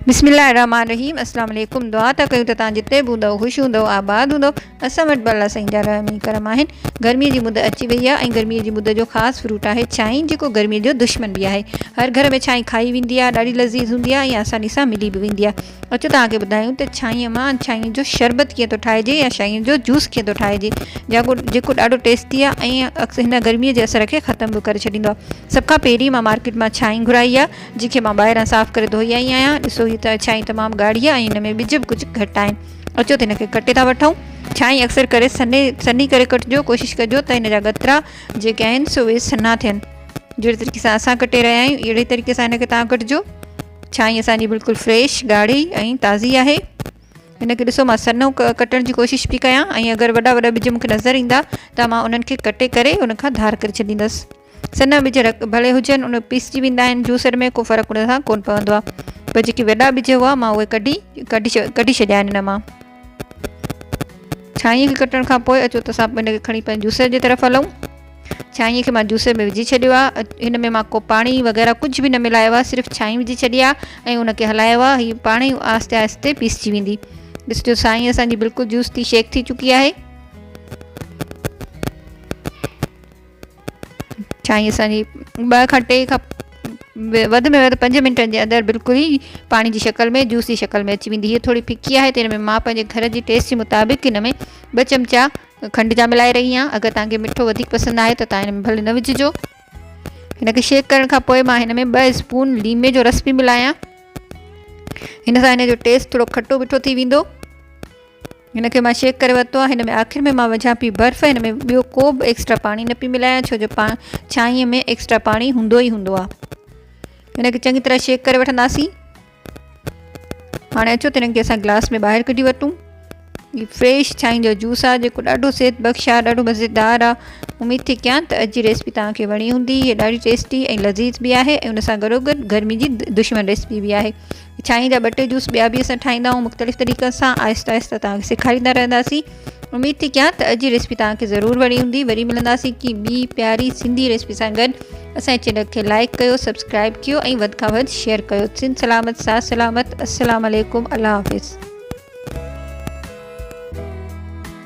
بسم الله الرحمن الرحيم السلام عليڪم دعا ته ڪيون ته تان جتي به هوندو خوش هوندو آباد هوندو اسان وٽ الله سائين جا رحم ۽ کرم آهن گرمي جي مد اچي وئي آهي ۽ گرمي جي مد جو خاص فروٽ آهي ڇائي جيڪو گرمي جو دشمن به آهي هر گهر ۾ ڇائي کائي ويندي آهي ڏاڍي لذيذ هوندي آهي ۽ آساني سان ملي به ويندي آهي اچو توهان کي ٻڌايون ته ڇاهيء مان ڇاهيء جو شربت ڪيئن ٿو ٺاهجي يا ڇاهيء جو جوس ڪيئن ٿو ٺاهجي جاڪو جيڪو ڏاڍو ٽيسٽي آهي ۽ اڪثر هن گرميء جي اثر کي ختم به ڪري ڇڏيندو آهي سڀ کان پهرين مان مارڪيٽ مان ڇاهي گهرائي آهي جنهن کي مان ٻاهران صاف ڪري ڌوئي آئي آهيان ڏسو هي ته ڇاهي تمام ڳاڙهي آهي ۽ هن ۾ ٻج به ڪجهه گهٽ آهن اچو ته هن کي ڪٽي ٿا وٺون ڇاهي اڪثر ڪري سنهي سنهي ڪري ڪٽجو ڪوشش ڪجو ته هن جا ڳترا جيڪي آهن سو اهي سنها ٿين جهڙي طريقي سان اسان ڪٽي رهيا آهيون اهڙي طريقي سان هن کي توهان ڪٽجو ڇاني اسان جي بلڪل فريش ڳاڙهي ۽ تازي آهي هن کي ڏسو مان سنو ڪٽڻ جي ڪوشش پي ڪيان ۽ اگر وڏا وڏا ٻج مونکي نظر ايندا ته مان انهن کي ڪٽي ڪري ان کان ڌار ڪري ڇڏيندس سنا ٻج ڀلي هجن ان پيسجي ويندا آهن جوسر ۾ ڪو فرق ان سان ڪون پوندو آهي پر جيڪي وڏا ٻج هئا مان اهي ڪڍي ڪڍي ڇڏيا آهن ان مان ڇاڃي کي ڪٽڻ کان پوء اچو ته اسان ان کي کڻي پنهنجي جوسر جي طرف هلون ڇاڃي کي مان جوسر ۾ وجهي ڇڏيو آهي هن ۾ مان ڪو پاڻي وغيره ڪجهه به نه ملايو آهي صرف ڇاڃي وجهي ڇڏي آهي ۽ ان کي هلايو آهي هي پاڻ ئي آهستي آهستي پيسجي ويندي ڏسجو سائين اسان جي بلڪل جوس ٿي شيڪ ٿي چڪي آهي ڇاڻي اسان جي ٻه کان ٽي کپ وڌ ۾ وڌ پنج منٽن جي اندر بلڪل ئي پاڻي جي شڪل ۾ جوس جي شڪل ۾ اچي ويندي هي ٿوري ڦڪي آهي ته هن ۾ مان پنهنجي گهر جي ٽيسٽ جي مطابق هن ۾ ٻه چمچا کنڊ جا ملائي رهي آهيان اگر توهان کي مٺو وڌيڪ پسند آهي ته توهان هن ۾ ڀلي نه وجهجو هن کي شيڪ ڪرڻ کان پوء مان هن ۾ ٻه اسپون ليمي جو رس به ملايان هن سان هن جو ٽيسٽ ٿورو کٽو مٺو ٿي ويندو هن کي مان شيڪ ڪري ورتو آهي هن ۾ آخر ۾ مان وجهان پي برف هن ۾ ٻيو ڪو به ايڪسٽرا پاڻي نه پي ملايان ڇو جو ڇانئين ۾ ايڪسٽرا پاڻي هوندو ئي هوندو آهي هن کي چڱي طرح شيڪ ڪري وٺنداسين هاڻي اچو ته هنن کي اسان گلاس ۾ ٻاهر ڪڍي ورتون هي فريش ڇائين جو جوس آهي جيڪو ڏاڍو صحت بخش آهي ڏاڍو مزيدار آهي اميد ٿي ڪيان ته اڄ جي ريسپي تان کي وڻي هوندي هي ڏاڍي ٽيسٽي ۽ لذيذ به آهي ۽ ان سان گڏو گڏ گرمي جي دشمن ريسپي به آهي ڇاڻي جا ٻه ٽي جوس ٻيا به اسان ٺاهيندا آهيون مختلف طريقن سان آهستي آهستي توهان کي سيکاريندا رهنداسين اميد ٿي ڪيان ته اڄ جي ريسپي توهان کي ضرور وڻي هوندي وري ملنداسين ڪي ٻي پياري سنڌي ريسپي سان گڏ اسان چينل کي لائڪ ڪيو سبسڪرائب ڪيو ۽ وڌ کان وڌ شيئر ڪيو سن سلامت سا سلامت السلام عليڪم الله حافظ